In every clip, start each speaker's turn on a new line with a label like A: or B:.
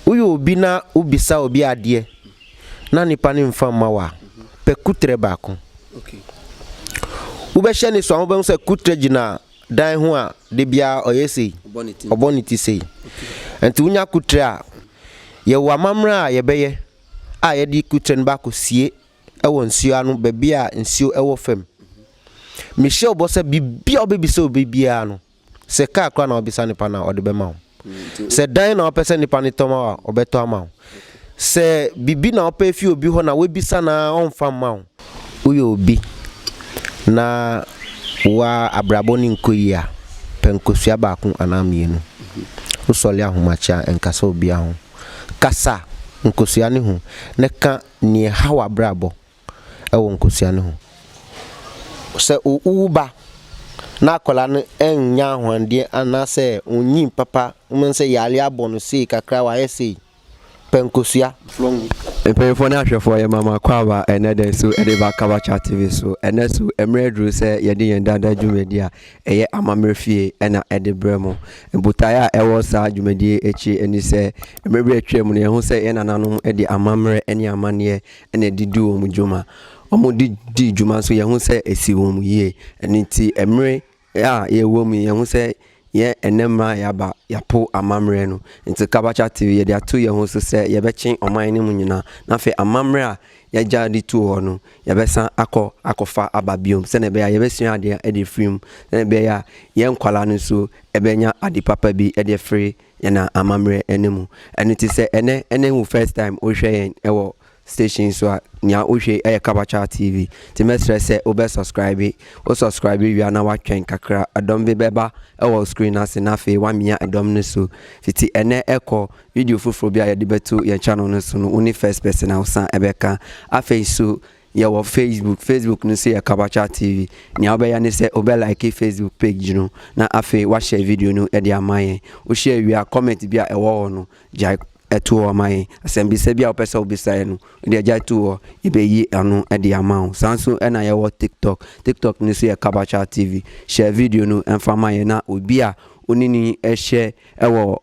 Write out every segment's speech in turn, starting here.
A: Woyɛ obi na wobisa obi adeɛ na nipa no mfa mma wo a, pɛ kutrɛ baako. Wobɛhyɛ ne so a, wobɛhu sɛ kutrɛ gyina dan ho a, da biara ɔyɛ sei, ɔbɔ ne ti sei. Nti wonya kutrɛ a, yɛwɔ amammerɛ a yɛbɛyɛ a yɛde kutrɛ no bɛakɔsie wɔ nsuo ano, baabi a nsuo wɔ fam. Mehyɛ wo bɔ sɛ biribiara a wobɛbisa obi biara no, Sɛ kaa koraa na wobisa nipa no a, ɔde bɛma wo. Sɛ dan na wopɛ sɛ nipa no tɔ ma wo a, ɔbɛtɔ ama wo. Sɛ biribi na wopɛ afi obi hɔ na woabisa no ara ɔmfa mma wo, woyɛ obi na w'abrabɔ no nkɔ yie a, pɛ nkosua baako anaa mmienu. Wosɔre ahomakyia nkasa obiara ho. Kasa nkosua no ho na ka nea ɛha w'abrabɔ wɔ nkosua no ho. Sɛ wowo ba na akwadaa no nnya ahoɔden anaasɛ onnyin papa, wobɛhu sɛ yare abɔ no sei kakra, wayɛ sei, pɛ nkosua. Mpanyimfoɔ ne ahwɛfoɔ,
B: yɛma mo akwaaba ɛnnɛ da yi so de ba Kabachat TV so. Ɛnnɛ so, mmerɛ aduru sɛ yɛde yɛn daa daa dwumadie a ɛyɛ Amammerɛ Fie na ɛde berɛ mo. Botaeɛ a ɛwɔ saa dwumadie yi akyi ne sɛ, mmerɛ bi a atwam no yɛahu sɛ yɛn nananom de amammerɛ ne amanneɛ ɛna ɛde di wɔn dwuma. Wɔde dii dwuma nso yɛn ho sɛ esi wɔn yie. Ɛno nti mmere a yɛwɔ mu yɛn ho sɛ yɛn ɛnɛ mmerɛ a yɛaba yɛapo amammerɛ no. Nti Kabakya TV yɛde ato yɛn ho so sɛ yɛbɛkye ɔman no mu nyinaa na afei amammerɛ a yɛagya de tu hɔ no yɛbɛsan akɔ akɔfa aba biom sɛdeɛ ɛbɛyɛ a yɛbɛsua adeɛ de afiri mu sɛdeɛ ɛbɛyɛ a yɛn nkwadaa no nso ɛbɛnya ade papa bi de afiri Yɛnam amammerɛ ɛna mu. Ɛno te sɛ ɛnɛ ɛna wo first time wohwɛ yɛn ɛwɔ station so a nea wohwɛ ɛyɛ Kabakyaa TV nti mɛsrɛ sɛ wobɛ subscribe wo subscribe wie a na woatwɛn kakra ɛdɔm bi bɛba ɛwɔ screen no ase na afei woamia ɛdɔm no so fiti ɛnɛ ɛkɔ video foforɔ bi a yɛde bɛto yɛn channel no so no wone first person a wosan ɛbɛka afei nso Yɛwɔ Facebook, Facebook no nso yɛ Kabakya TV. Nea wobɛyɛ ne sɛ wobɛlike Facebook page no, na afei woahyɛ video no de ama yɛn. Wohyɛ wie a, comment bi a ɛwɔ hɔ no, gyae to hɔ ma yɛn. Asɛmmisa bi a wopɛ sɛ wobisa yɛn no, wode gyae to hɔ, yɛbɛyi ɛno de ama wo. Saa nso na yɛwɔ TikTok. TikTok no nso yɛ Kabakya TV. Hyɛ video no mfa ma yɛn, na obi a wo ne no hyɛ wɔ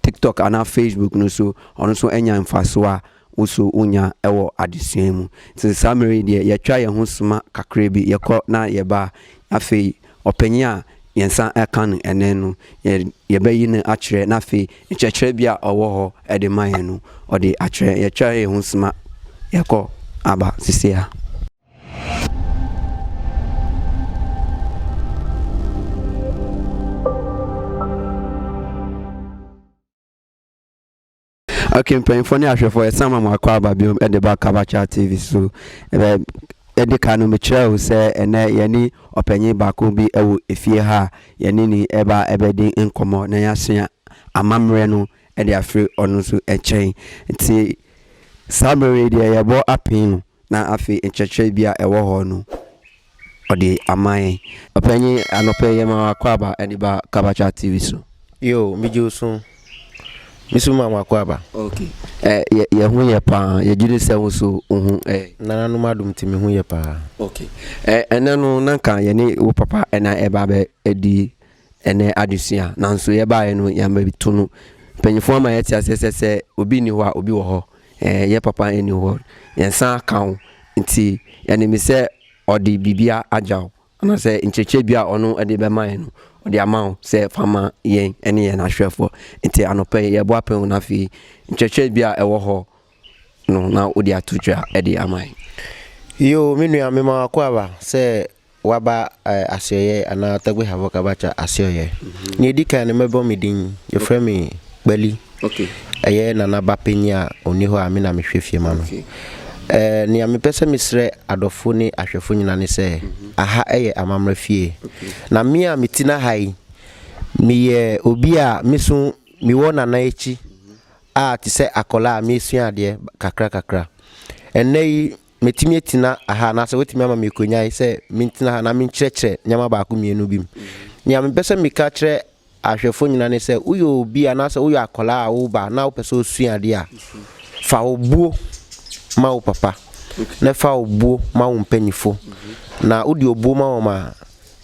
B: TikTok anaa Facebook no so, ɔno nso nya mfasoɔ a wo nso wonya wɔ adesua mu. Nti saa mmerɛ yi deɛ yɛtwa yɛn ho soma kakra bi, yɛkɔ na yɛba. Afei ɔpanin a yɛn nsa ka no ɛnnɛ no, yɛbɛyi no akyerɛ na afei nkyerɛkyerɛ bi a ɔwɔ hɔ de ma yɛn no, ɔde akyerɛ. Yɛtwa yɛn ho soma, yɛkɔ aba seesei ara. okay mpanyinfoɔ ne ahwɛfoɔ yɛsan ma mo akɔ aba biom de ba kabacha tv so ɛbɛ ɛde ka no mekyerɛ wo sɛ ɛnɛ yɛne ɔpanyin baako bi wɔ efie ha a yɛne ne ɛba ɛbɛdi nkɔmmɔ na yɛasua amammerɛ no de afiri ɔno nso nkyɛn nti saa bere yi deɛ yɛbɔ apee no na afei nkyerɛkyerɛ bi a ɛwɔ hɔ no ɔde ama yɛn. Ɔpanyin, anɔpa yi yɛma w'akwaaba de ba Kabacha TV so. Yo, megye wo
A: so. Me nso ma m'akwaaba. Ok. Ɛ,
B: yɛ ho yɛ paa. Yɛgye di sɛ wo nso wo ho ɛ. Nananom adom
A: nti me ho yɛ paa. Ok. Ɛ,
B: ɛnnɛ no na nka yɛne wo papa na ɛreba abɛdi. Ɛnɛ adesua, Nanso yɛbaeɛ no yɛabɛto no. Mpanyinfoɔ ama yɛte aseɛ sɛ sɛ obi nni hɔ a obi wɔ hɔ. Ɛɛ yɛ papa nni hɔ. Yɛnsan aka wo. Nti yɛnim sɛ ɔde biribia agya wo. Anaasɛ nkyerɛkyerɛ bi a ɔno de bɛma yɛn no ɔde ama wo sɛ fa ma yɛn ne yɛn ahwɛfoɔ. Nti anɔpa yi yɛbɔ apɛn o na afei nkyerɛkyerɛ bi a ɛwɔ hɔ no na wode ato dwa de ama yɛn. Yoo
A: me nua mema wako aba sɛ waba eh, asoɛyɛ anaa ɔtagbe hafo kabacha asoɛyɛ nea ɛdi kan no mɛbɔ me din yɛfrɛ me kpali okay.
B: ɛyɛ nana ba
A: panyin a ɔni hɔ a me na mehwɛ fie ma no okay. eh, nea mepɛ sɛ mesrɛ adɔfo ne ahwɛfo nyina ne sɛ mm -hmm. aha ɛyɛ amammerɛ fie okay. na me a meti no aha yi meyɛ obi a meso mewɔ nana akyi a te sɛ akwadaa a meresua adeɛ kakra kakra. Ɛnnɛ yi, mɛtumi atina aha anaasɛ wɔatumi ama me akonnwa sɛ mentena ha na menkyerɛkyerɛ nneɛma baako mmienu bi mu. Nea mepɛ sɛ meka kyerɛ ahwɛfoɔ nyinaa ne sɛ woyɛ obi anaasɛ woyɛ akwadaa a woba na wopɛ sɛ wosua adeɛ a, fa wo buo ma wo papa na fa wo buo ma wo mpanyinfoɔ. Na wode obuo ma wɔn a,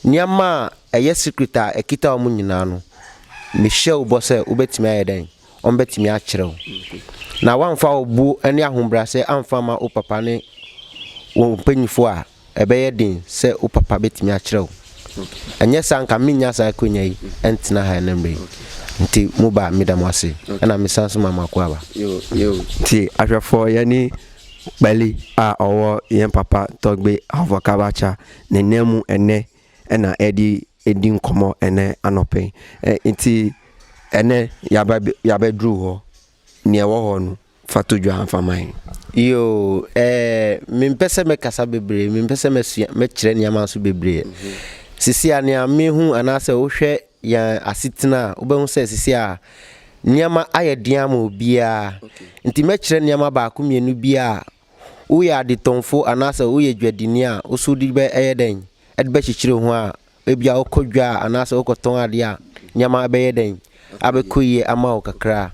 A: nneɛma a ɛyɛ secret a ɛkita wɔn nyinaa no, mehyɛ wo bɔ sɛ wobɛtumi ayɛ dɛn? wɔbɛtumi akyerɛ wo. Na woamfa obuo ne ahobrɛaseɛ amfa amma wo papa ne wo mpanyinfoɔ a, ɛbɛyɛ den sɛ wo papa bɛtumi akyerɛ wo. Ɛnyɛ saa nka mennya saa akwanya yi ntena ha ɛnɛ mmerɛ yi. Nti mo ba meda mo ase. Ɛna mesan nso ma mo akoaba. Nti
B: ahwɛfoɔ yɛne Kpali a ɔwɔ yɛn papa Tɔgbe Afɔkabacha ne nan mu ɛnnɛ. na ɛde redi nkɔmmɔ ɛnɛ anɔpa yi. Nti ɛnɛ yaba yabɛduru hɔ, nea ɛwɔ hɔ no fa to dwa fa ma yɛn. Yoo,
A: ɛɛ mempɛ sɛ mɛkasa bebree, mempɛ sɛ mɛsua mɛkyerɛ nneɛma nso bebree. Sisi a nea mehu anaasɛ wohwɛ yɛn asetena a, wobɛhu sɛ sisi a nneɛma ayɛ den ama obiara. Nti mɛkyerɛ nneɛma baako mmienu bi a Woyɛ adetɔnfo anaasɛ woyɛ dwadini a, wo so wode bɛyɛ dɛn de bɛkyekyere wo ho a ebia wokɔ dwa a anaasɛ wokɔtɔn ade a, nneɛma bɛyɛ dɛn abɛkɔ yie ama wo kakra?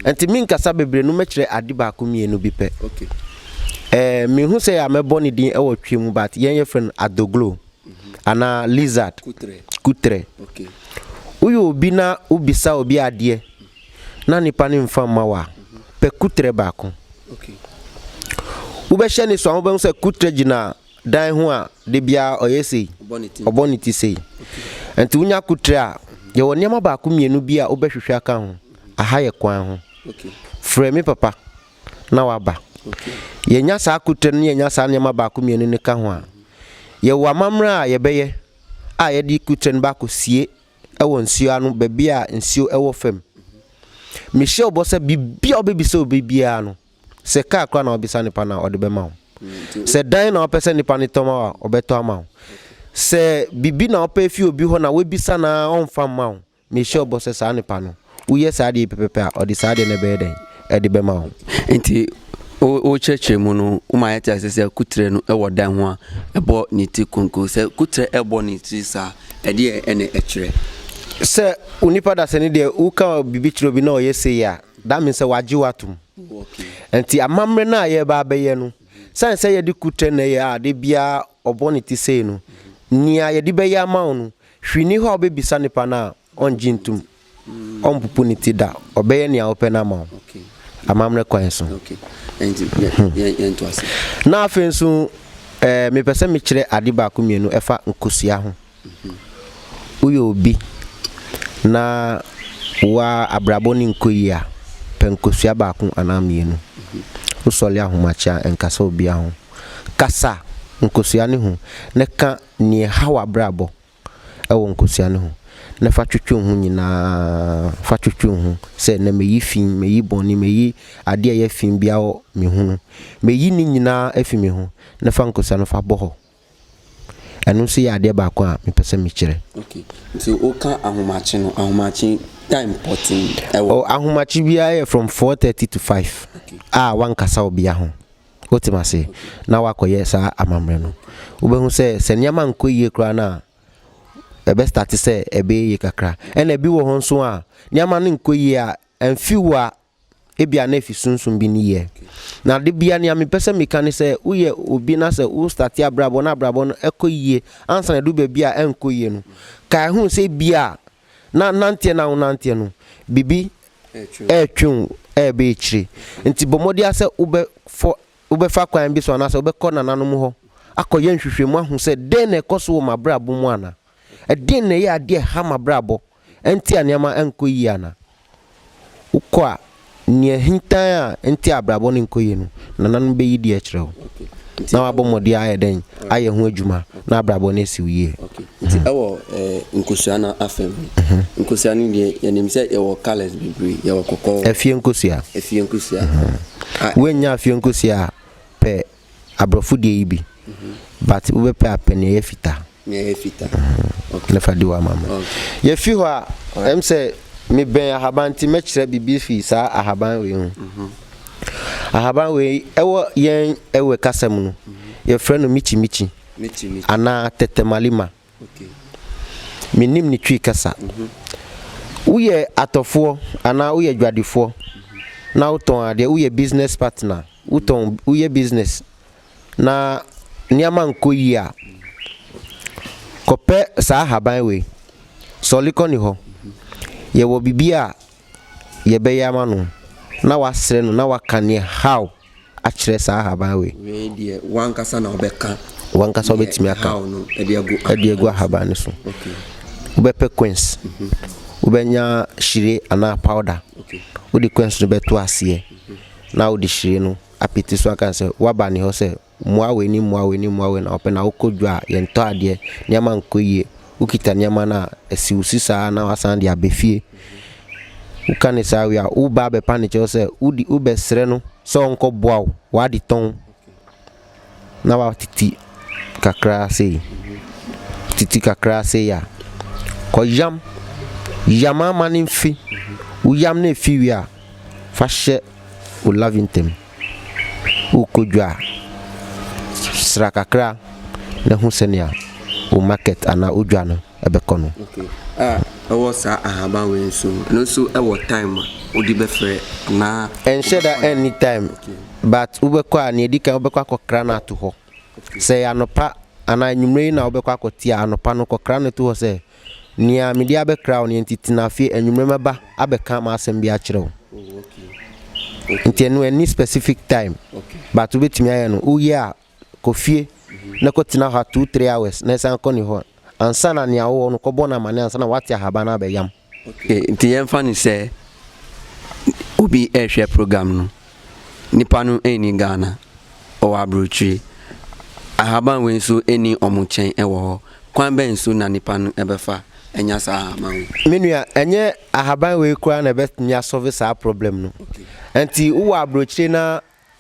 A: Ɛnti menkasa bebree no, mɛkyerɛ ade baako mmienu bi pɛ. Ɛɛ mehu sɛ a mɛbɔ ne din wɔ twi mu but yɛn yɛfrɛ no adoglo anaa lizard, kutrɛ. Woyɛ obi na wobisa obi adeɛ na nipa no nfa mma wo a, pɛ kutrɛ baako. Wobɛhyɛ ne so a, wobɛhu sɛ kutrɛ gyina dan ho a, da biara ɔyɛ sei, ɔbɔ ne ti sei. Nti wonya kutrɛ a, yɛwɔ nneɛma baako mmienu bi a wobɛhwehwɛ aka ho. Aha yɛ kwan ho. Frɛ me papa na waba. Yɛnya saa kutrɛ no na yɛnya saa nneɛma baako mmienu no ka ho a, yɛwɔ amammerɛ a yɛbɛyɛ a yɛde kutrɛ no bɛakɔsie wɔ nsuo ano, baabi a nsuo wɔ fam. Mehyɛ wo bɔ sɛ biribiara a wobɛbisa obi biara no, sɛ kaa koraa na wobisa nipa no a, ɔde bɛma wo. Sɛ dan na wopɛ sɛ nipa no tɔ ma wo a, ɔbɛtɔ ama wo. Sɛ biribi na wopɛ fi obi hɔ na woabisa no ara ɔmfa mma wo, mehyɛ wo bɔ sɛ saa nipa no, woyɛ saa adeɛ yi pɛpɛpɛ a, ɔde saa adeɛ no bɛyɛ dɛn? Ɛde bɛma wo. Nti,
B: wo wo kyerɛkyerɛ mu no, wo ma yɛte ase sɛ kutrɛ no wɔ dan ho a, ɛbɔ ne ti konko. Sɛ kutrɛ ɛbɔ ne ti saa a, ɛdeɛ ɛna ɛkyerɛ? Sɛ
A: onipa dasani deɛ, wo ka biribi kyerɛ obi na ɔyɛ sei a, that means sɛ wagye wo atom. Nti amammerɛ no a yɛreba abɛyɛ no, sane sɛ yɛde kutrɛ na ɛyɛ a, da biara ɔbɔ ne ti sei no, nea yɛde bɛyɛ ama wo no, hwee ni hɔ a wobɛbisa nipa no a, ɔngye ntom. ɔmpopo ne ti da, ɔbɛyɛ nea wopɛ no ama wo amammerɛ kwan so. Hmm.
B: Na afei nso,
A: eh, mepɛ sɛ mekyerɛ ade baako mmienu ɛfa nkosua ho. Mhm. Woyɛ obi na woa abrabɔ ne nkɔ yie a, pɛ nkosua baako anaa mmienu. Mhm. Wosɔle ahomakyea nkasa obia ho. Kasa nkosua ne ho na ka nea ɛha w'abrabɔ wɔ nkosua no ho, na fa twetwe wo ho nyinaa, fa twetwe wo ho sɛ, Nnɛ meyi fi, meyi bɔne, meyi adeɛ a ɛyɛ fi biara wɔ me ho no, meyi ne nyinaa afi me ho, na fa nkosua no fa bɔ hɔ. Ɛno nso yɛ adeɛ baako a mepɛ sɛ mekyerɛ. Okay. Nti woka
B: ahomakye no, ahomakye time pɔtee ɛwɔ. Oh, ahomakye
A: biara yɛ from 4:30 to 5 a wankasa obia ho. Wotem ase na woakɔyɛ saa amammerɛ no, wobɛhu sɛ, sɛ nneɛma nkɔ yie koraa no a, ɛbɛstarte sɛ ɛbɛyɛ yie kakra. Ɛna ebi wɔ hɔ nso a, nneɛma no nkɔ yie a, ɛmfi wo a, ebia na efi sunsum bi nneyɛɛ. Na da biara nea mepɛ sɛ meka ne sɛ, woyɛ obi na sɛ wostarte abrabɔ na abrabɔ no kɔ yie, ansa na ɛduru baabi a ɛnkɔ yie no, kae hu sɛ ebia Na nanteɛ no a wonanteɛ no, biribi retwe wo reba akyire. Nti bɔ mmɔden ara sɛ wobɛfɔ, wobɛfa kwan bi so anaasɛ wobɛkɔ nananom hɔ akɔyɛ nhwehwɛmu ahu sɛ dɛn na ɛkɔ so wɔ m'abrabɔ mu anaa ɛdeɛn na ɛyɛ adeɛ a ɛha m'abrabɔ, ɛnti a nneɛma nkɔ yie anaa. wokɔ a, nea ahintan a ɛnte abrabɔ no nkɔ yie no, nananom bɛyi di akyerɛ wo, na wabɔ mmɔden ayɛ dɛn? Ayɛ ho adwuma na abrabɔ no asi wo yie. Nti ɛwɔ
B: nkosua no afa mu. Nkosua no deɛ, yɛnim sɛ yɛwɔ colours bebree, yɛwɔ kɔkɔɔ. Afie nkosua.
A: Afie nkosua. Woannya afie nkosua a, pɛ abrɔfo deɛ yi bi but wo bɛ pɛ a pɛ nea ɛyɛ fitaa nea ɛyɛ fitaa okay na fa di wa mama okay yɛ fi hɔ a ɛm sɛ me bɛn ahaban ti mɛ kyerɛ bibi fi saa ahaban wei ho mhm. ahaban wei ɛwɔ yɛn ɛwɛ kasa mu no yɛ frɛ no michi michi anaa tɛtɛmalima Mennim ne Twi kasa. Woyɛ atɔfoɔ anaa woyɛ dwadefoɔ na wotɔn adeɛ, woyɛ business partner, wotɔn, woyɛ business na nneɛma nkɔ yie a, kɔpɛ saa ahaban wei. Sɔle kɔ ne hɔ. Yɛwɔ biribi a yɛbɛyɛ ama no na wasrɛ no na waka neɛ how. akyerɛ saa ahaban wei. Wei deɛ wankasa
B: na ɔbɛka. Wankasa ɔbɛtumi
A: aka ɛde agu ahaban no so. Wobɛpɛ coins, mhm. wobɛnya hyire anaa powder. Wode coins no bɛto aseɛ mhm. na wode hyire no apete so aka sɛ waba ne hɔ sɛ mmoa wei ne mmoa wei ne mmoa wei na ɔpɛ na wokɔ dwa a yɛntɔ adeɛ nneɛma nkɔ yie wokita nneɛma no a, asi wo so saa na woasan de aba fie. Woka no saa wie a, woba abɛpa no kyɛw sɛ wode wobɛsrɛ no sɛ ɔnkɔboa wo w'adetɔn na watete kakra sei. Tete kakra sei a, kɔyam. Yam ama no mfe. Woyam no efi wie a, fa hyɛ wo lavin tam. wo kodwa sra kakra na hu sɛnea wo market anaa wo dwa no bɛkɔ no. Okay ah
B: ɛwɔ saa ahaban wei nso ɛno nso ɛwɔ time a wode bɛfrɛ anaa. Ɛnhyɛ da any
A: time but wobɛkɔ a nea edi kan wobɛkɔ akɔkra no ato hɔ sɛ ɛyɛ anɔpa anaa anwummere yi na wobɛkɔ akɔte a anɔpa no kɔkra no to hɔ sɛ Nea mede abɛkra wo no enti tena fie anwummere mɛba abɛka m'asɛm bi akyerɛ wo. Oh, okay. Okay. Nti ɛno ɛni specific time. Okay. But wobɛtumi ayɛ no woyɛ a kɔ fie mm -hmm. na kɔtena hɔ a two three hours na ɛsan kɔ ne hɔ ansa na nea wowɔ no kɔbɔ no amane ansa na woate ahaban no abɛyam. Okay. Nti yɛmfa
B: no sɛ obi ɛrehwɛ program no Nnipa no nni Ghana, wɔwɔ aburokyire. Ahaban wei nso nni wɔn nkyɛn wɔ hɔ. Kwan bɛn so na nnipa no bɛfa anya saa ahaban wei? Me nua, ɛnyɛ
A: ahaban wei koraa na ɛbɛtumi asɔve saa problem no. Nti wowɔ aburokyire na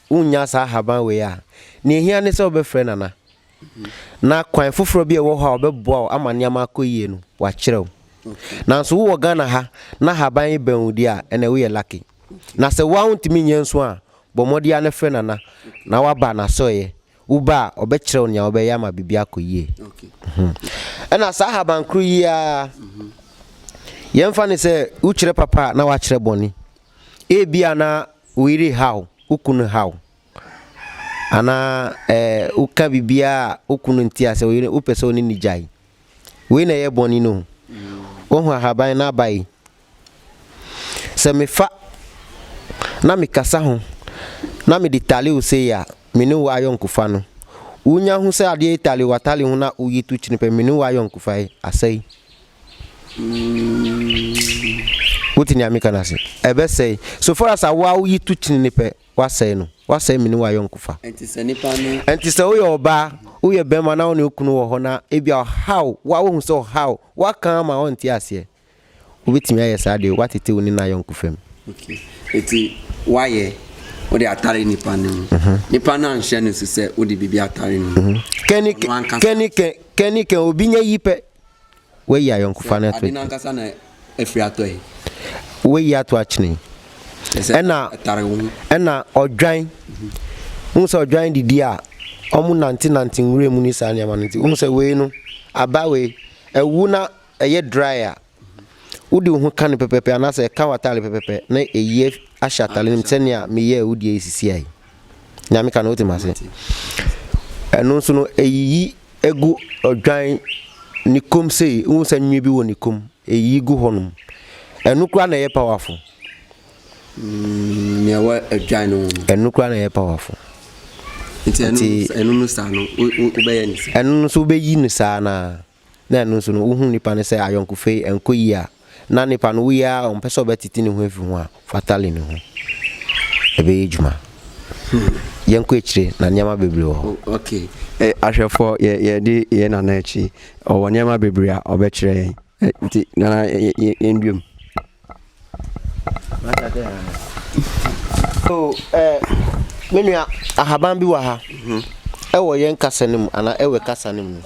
A: wonnya saa ahaban wei a, nea ɛhia ne sɛ wobɛfrɛ Nana. na kwan foforɔ bi a ɛwɔ hɔ a wɔbɛboa wo ama nneɛma akɔ yie no, wɔakyerɛ wo. Nanso wowɔ Ghana ha na haban yi bɛn wo deɛ a, ɛnna woyɛ lucky. Na sɛ wo ara wontumi nyɛ nso a, bɔ mmɔden ara na frɛ Nana na woaba n'asɔeɛ. Woba a, ɔbɛkyerɛ wo nea wobɛyɛ ama biribi akɔ yie. Ɛnna saa haban koro yi ara, yɛmfa no sɛ wokyerɛ papa a na woakyerɛ bɔne. Ebia na wo yere rehaw, wo kunu haw. anaa ɛɛ woka biribiara a wo kunu nte ase, wo yere wopɛ sɛ ɔne ne gyae. Wei na ɛyɛ bɔne no. Wohu ahaban no aba yi? Sɛ mefa na mekasa ho na mede tale wo sei a, me ne wo ayɔnkofa no, wonya hu sɛ adeɛ yi tale w'atale ho na woyi to kyene pɛ, me ne wo ayɔnkofa yi asɛe. Wote nea meka no ase? Ɛbɛsɛe. So far as a wo a woyi to kyene pɛ, Woasɛe no. Woasɛe me ne wo ayɔnkofa. Enti sɛ nnipa no.
B: Enti sɛ woyɛ ɔbaa,
A: woyɛ barima na wo ne wo kunu wɔ hɔ na ebia ɔhaw wo a woahu sɛ ɔhaw wo, woaka ama ɔnte aseɛ. Wobɛtumi ayɛ saa deɛ woatete wo ne no ayɔnkofa mu. Okay.
B: Enti woayɛ, wode atare nnipa no mu. Nnipa no anhyɛ no nso sɛ wode biribi atare ne mu. Ɔno ankasa. Kɛn ne kɛn, kɛn ne
A: kɛn, obi nya yi pɛ. Woayi ayɔnkofa no ato akyene.
B: Woayi
A: ato akyene. Ɛna ɛna ɔdwan. Wohu sɛ ɔdwan didi a wɔn nante nante nwura mu ne saa nneɛma no nti wohu sɛ wei no aba wei ɛwu na ɛyɛ dry a wode wo ho ka no pɛpɛpɛ anaasɛ ɛka w'atare pɛpɛpɛ na ɛyi ahyɛ atare no mu sɛnea meyɛ a wodi ɛsisi ayi. Nea meka no wote m'ase. Ɛno nso no eyiyi egu odwan ne kom sei, wohu sɛ nwi bi wɔ ne kom, eyiyi gu hɔnom. Ɛno koraa na ɛyɛ powerful. Mm,
B: nea ɛwɔ odwan no ho no. Ɛno koraa na ɛyɛ powerful.
A: Nti
B: ɛno no saa no wobɛyɛ ne saa. Ɛno nso wobɛyi ne
A: saa naa. na ɛno nso no, wohu nnipa no sɛ ayɔnkofa yi ɛnkɔ yie a, na nnipa no woyɛ ara a ɔmpɛ sɛ ɔbɛtete ne ho afi ho a, fa tali ne ho. Ɛbɛyɛ adwuma. Hmm. Yɛnkɔ akyire na nneɛma bebree wɔ hɔ. Ok. Eh,
B: ahwɛfoɔ yɛ yɛde yɛn nana akyi. Ɔwɔ nneɛma bebree a ɔbɛkyerɛ yɛn. Eh, nti nana yɛn duam. Oh, eh,
A: me nua, ahaban bi wɔ ha. Ɛwɔ yɛn kasa no mu, anaa ɛwɔ kasa no mu.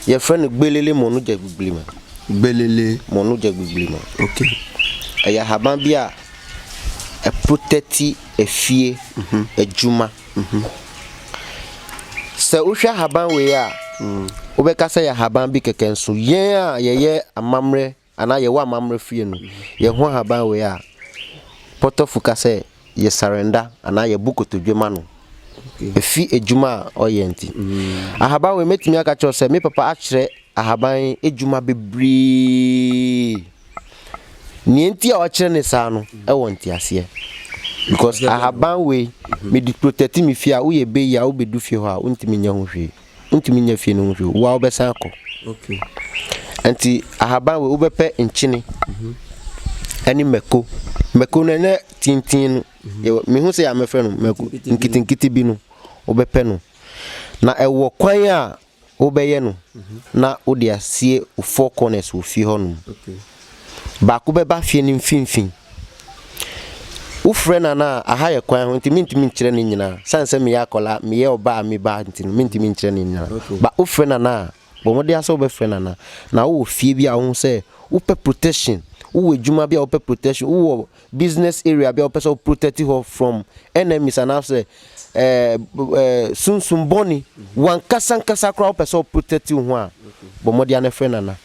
A: Yɛfrɛ no gbelele mɔnogya gbigbirima. Gbelele
B: mɔnogya gbigbirima.
A: Okay.
B: Ɛyɛ ahaban
A: bi a ɛprotɛti efie adwuma. Sɛ wohwɛ ahaban wei a, wobɛka sɛ yɛ ahaban bi kɛkɛ nso. Yɛn a yɛyɛ amammerɛ Anaa yɛwɔ amammerɛ fie no, yɛn ho ahaban wei a, pɔtɔfo ka sɛ yɛ surrender anaa yɛ bo kotodwe ma no. Ɛfi adwuma a ɔyɛ nti. Ahaban wei mɛtumi aka kyerɛ wo sɛ me papa akyerɛ ahaban adwuma bebree. Nea nti a ɔkyerɛ ne saa no ɛwɔ nteaseɛ. Because ahaban wei mede protect me fie a woyɛ bɛyi a wobɛdu fie hɔ a wontumi nyɛ ho hwee. wontumi nya fie no ho hwee wo a wobɛsan akɔ nti ahaban wei wobɛpɛ nkyene mhm. ɛne mako mako no ɛnɛ tintin no mhm. mehu sɛ yɛamɛfrɛ no mako nkitinkiti bi no wobɛpɛ no na ɛwɔ kwan a wobɛyɛ no mhm. na wode asie four corners wɔ fie hɔ nom Baako bɛba fie no mfimfini. Wofrɛ no anaa? Aha yɛ kwan ho nti mentumi nkyerɛ ne nyinaa. Sane sɛ meyɛ akwadaa, meyɛ ɔbaa a meba ha nti no, mentumi nkyerɛ ne nyinaa. But wofrɛ no anaa? Bɔ mmɔden ara sɛ wobɛfrɛ no anaa. Na wowɔ fie bi a wohu sɛ wopɛ protection, wowɔ adwuma bi a wopɛ protection, wowɔ business area bi a wopɛ sɛ wo protect hɔ from enemies anaasɛ ɛɛ ɛɛ sunsum bɔne, w'ankasa ankasa koraa wopɛ sɛ wo protect wo ho a, bɔ mmɔden ara na frɛ no anaa.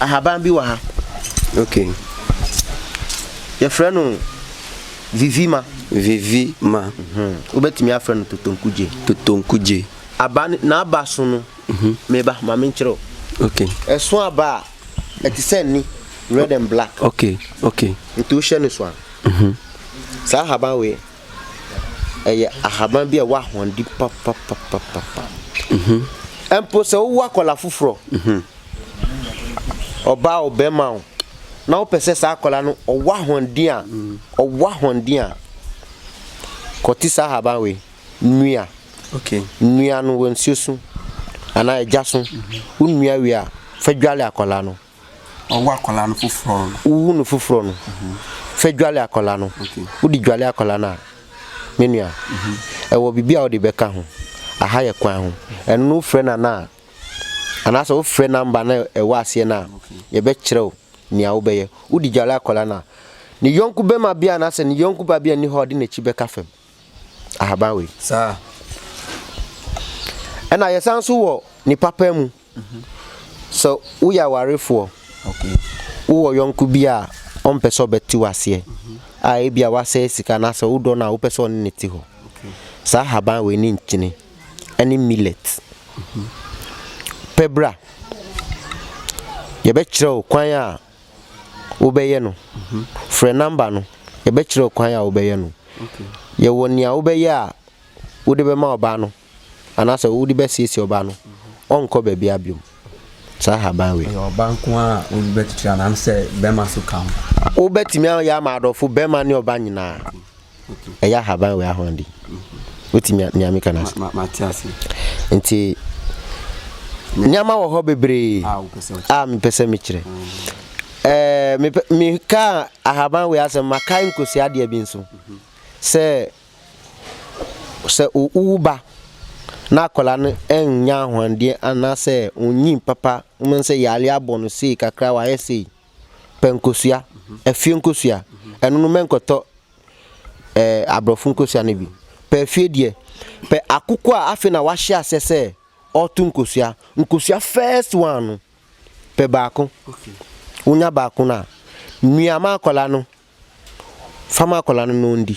A: ahaban bi wɔ ha.
B: Okay.
A: Yɛfrɛ no vivima. Vivima. Mhm. Wobɛtumi afrɛ no totonkugye. Totonkugye. Aba n'aba so no. Mhm. Meba ma menkyerɛ o. Okay. Ɛso
B: aba a
A: ɛte sɛ ni red and black. Okay. Okay.
B: Nti
A: wohyɛ no so a. Mhm. Saa ahaban wei. ɛyɛ ahaban bi a ɛwɔ ahoɔden papapapapa. Mpo sɛ wowɔ akwadaa foforɔ, ɔbaa o bɛrima o, na wopɛ sɛ saa akwadaa no ɔwɔ ahoɔden a, ɔwɔ ahoɔden a, kɔte saa ahaban wei, nua. Okay.
B: Nua no wɔ
A: nsuo so anaa ɛgya so. Wonua wie a, fa dwale akwadaa no. Ɔwo akwadaa
B: no foforɔ no. Wohu no foforɔ no.
A: Fɛ dwale akwadaa no. Wode dwale akwadaa no a, me nua, ɛwɔ biribi a wode bɛka ho. Aha yɛ kwan ho. Ɛno no wofrɛ no anaa? Anaasɛ wofrɛ number no a ɛwɔ aseɛ no a, yɛbɛkyerɛ wo nea wobɛyɛ. Wode dwale akwadaa no a, ne yɔnko barima bi anaasɛ ne yɔnko ba bi a nni hɔ a ɔde n'akyi bɛka fam. Ahaban wei. Saa. Ɛna yɛsan nso wɔ nipa paa mu. Sɛ woyɛ awarefoɔ,
B: wowɔ yɔnko
A: bi a ɔmpɛ sɛ ɔbɛte wo aseɛ a ebia wasɛe sika anaasɛ wodɔ no a wopɛ sɛ ɔne no te hɔ, saa ahaban wei ne nkyene ne millet pɛ bra. Yɛbɛkyerɛ wo kwan a wobɛyɛ no. Frɛ number no, yɛbɛkyerɛ wo kwan a wobɛyɛ no. Yɛwɔ
B: nea
A: wobɛyɛ a wode bɛma ɔbaa no. anaasɛ wode bɛsiesie ɔbaa no, ɔnkɔ baabiara biom. Saa haban wei. Ɛyɛ ɔbaa nko ara a wode
B: bɛtwitwi anaasɛ bɛrima nso ka ho? Wobɛtumi ayɛ
A: ama adɔfo bɛrima ne ɔbaa nyinaa. Ɛyɛ ahaban wei ahoɔden. Wote nea meka no ase? Mate ase.
B: Nti
A: nneɛma wɔ hɔ bebree a mepɛ sɛ mekyerɛ. Ɛɛ mekaa ahaban wei asɛm makae nkosua adeɛ bi nso sɛ sɛ owu ba na akwadaa no nnya ahoɔden anaasɛ onnyin papa, wobɛhu sɛ yare abɔ no sei kakra wayɛ sei, pɛ nkosua, afie nkosua. Ɛno no mɛnkɔtɔ ɛɛ aborɔfo nkosua no bi. Pɛ afie deɛ, pɛ akoko a afei na wahyɛ aseɛ sɛ ɔreto nkosua. Nkosua first one no, pɛ baako.
B: Wonya baako
A: no a, mia ma akwadaa no Fa ma akwadaa no na ɔndi.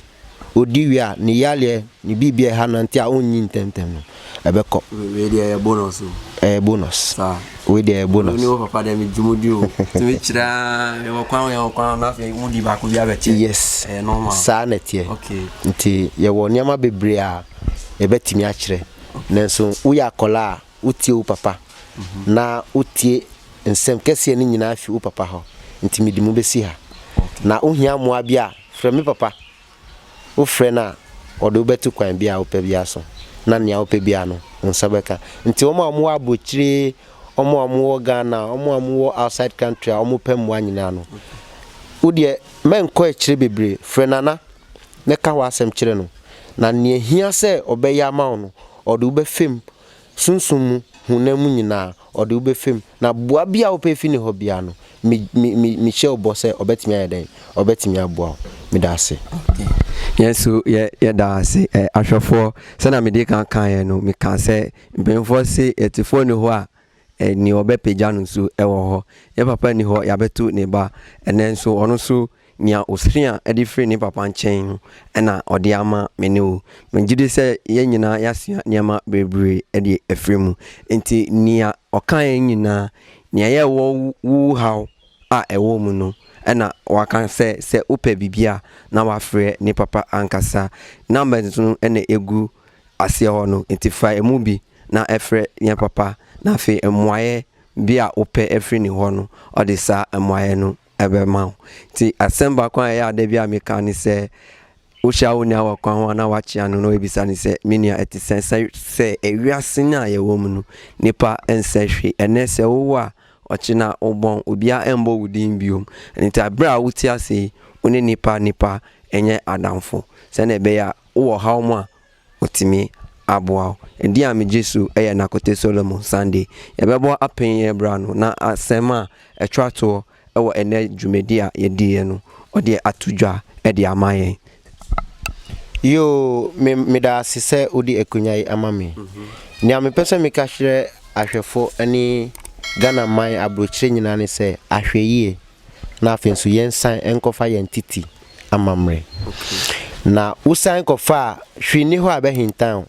A: Ɔdi wie a, ne yareɛ, ne biribi a ɛha no nti a ɔnyi ntɛmntɛm no, ɛbɛkɔ. Wei deɛ ɛyɛ
B: bonus o. Ɛyɛ bonus.
A: Saa. Wei deɛ
B: ɛyɛ bonus. Wei ne
A: wo papa deɛ megye mo
B: di o. Tumi kyerɛ a, yɛwɔ kwan o, yɛwɔ kwan o, na afei mo di baako bi abɛkyɛ. Yes. Ɛyɛ normal.
A: Saa na ɛteɛ. Okay. Nti
B: yɛwɔ
A: nneɛma bebree a yɛbɛtumi akyerɛ. Nanso woyɛ akwadaa a, wotie wo papa, na wotie nsɛm kɛseɛ no nyinaa fi wo papa hɔ, nti mede mo bɛsi ha. Na wohia mmoa bi a, frɛ me papa. Wofrɛ no a, ɔde wo bɛto kwan biara a wopɛ biara so, na nea wopɛ biara no, wo nsa bɛka. Nti wɔn a wɔwɔ abrokyire, wɔn a wɔwɔ Ghana, wɔn a wɔwɔ outside country a wɔpɛ mmoa nyinaa no, wo deɛ mɛnkɔ akyire bebree, frɛ Nana na ka w'asɛm kyerɛ no, na nea ɛhia sɛ ɔbɛyɛ ama wo no, ɔde wo bɛfa mu sunsum mu, honam mu nyina, ɔde wo bɛfa mu. Na boa bi a wopɛ fi ne hɔ biara no, me, me, me, mehyɛ wo bɔ sɛ ɔbɛtumi ayɛ dɛn? Ɔbɛtumi aboa wo. Meda ase. Okay. Yɛn nso
B: yɛ, yɛda ase. Ɛ, ahwɛfoɔ, sɛdeɛ mede kan kaeɛ no, mekaa sɛ, mpanimfoɔ se, yɛtefoɔ nni hɔ a, Nea ɔbɛpagya no nso wɔ hɔ. Ne papa nni hɔ, yɛabɛto ne ba. Ɛnnɛ nso, ɔno nso, nea osua de firi ne papa nkyɛn no na ɔde ama me ne wo. Megye di sɛ yɛn nyinaa yɛasua nneɛma bebree de afiri mu. Enti nea ɔkae nyinaa, nea ɛyɛ wo wo haw a ɛwɔ mu no na waka sɛ, sɛ wopɛ biribi a, na wafrɛ ne papa ankasa. Numbers no na egu aseɛ hɔ no, enti fa emu bi na ɛfrɛ nea papa na afei mmuaeɛ bi a wopɛ afiri ne hɔ no ɔde saa mmuaeɛ no bɛma wo. Nti asɛm baako a ɛyɛ a da biara meka ne sɛ wohyia wo nua wɔ kwan ho anaa woakyea no na wabisa no sɛ me nua ɛte sɛn sɛ sɛ ewiase no a yɛwɔ mu no nnipa nsɛ hwee ɛnnɛ sɛ wowo a ɔkyena wobɔn obiara mmɔ wo din biom nti berɛ a wote ase yi wo ne nnipa nnipa nyɛ adamfo sɛnea ɛbɛyɛ a wowɔ haw mu a Otumi aboa wo. Edin a megye so yɛ Nakote Solomon Sunday. Yɛbɛbɔ apɛn yi bere ano na asɛm a ɛtwa toɔ wɔ ɛnnɛ dwumadi a yɛdiiɛ no, ɔde ato dwa de ama yɛn. Yoo,
A: me, meda ase sɛ wode akonya yi ama me. Nea mepɛ sɛ meka kyerɛ ahwɛfo ne Ghana man aburokyire nyinaa ne sɛ, ahwɛyie, na afei nso yɛnsan nkɔfa yɛn titi. amammerɛ. Na wosan kɔfaa hwee nni hɔ a ɛbɛhintan wo.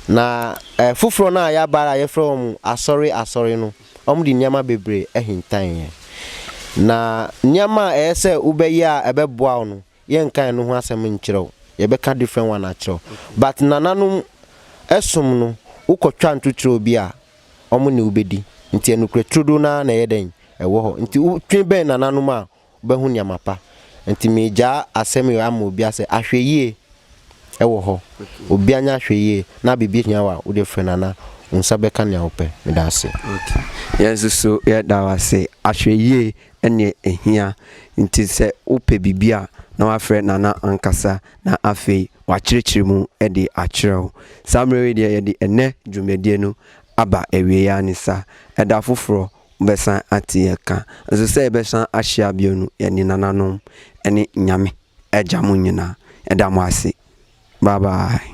A: Na ɛɛ foforɔ no a ɛyɛ abaare a yɛfrɛ wɔn asɔre asɔre no, wɔde nneɛma bebree hintan yɛn. Na nneɛma a ɛyɛ sɛ wobɛyɛ a ɛbɛboa wo no, yɛnka ɛno ho asɛm nkyerɛ wo. Yɛbɛka different one akyerɛ wo. But nananom som no, wokɔtwa ntotorɔ bi a, wɔne wo bɛdi. Nti anokorɛ turodoo no ara na ɛyɛ dɛn? Ɛwɔ hɔ. Nti wotwe bɛn nananom a, wobɛhu nneɛma pa. Nti meregyaa asɛm yi hɔ ama obi asɛ ahwɛyie wɔ hɔ. Obi anya ahwɛyie na biribi hia wo a, wode frɛ no na wo nsa bɛka nea wopɛ. Meda ase. Okay. Yɛn nso so
B: yɛda wo ase. Ahwɛyie ɛne ɛhia. Nti sɛ wopɛ biribi a na wafrɛ Nana ankasa na afei wakyerɛkyerɛ mu de akyerɛ wo. Saa mmerɛ wei deɛ yɛde ɛnnɛ dwumadie no aba awieɛ ara ne sa. Ɛda foforɔ Wobɛsan ate yɛn ka nso sɛ yɛbɛsan ahyia bio no, yɛne nananom ne Nyame Agya mo nyinaa da mo ase. Bye bye.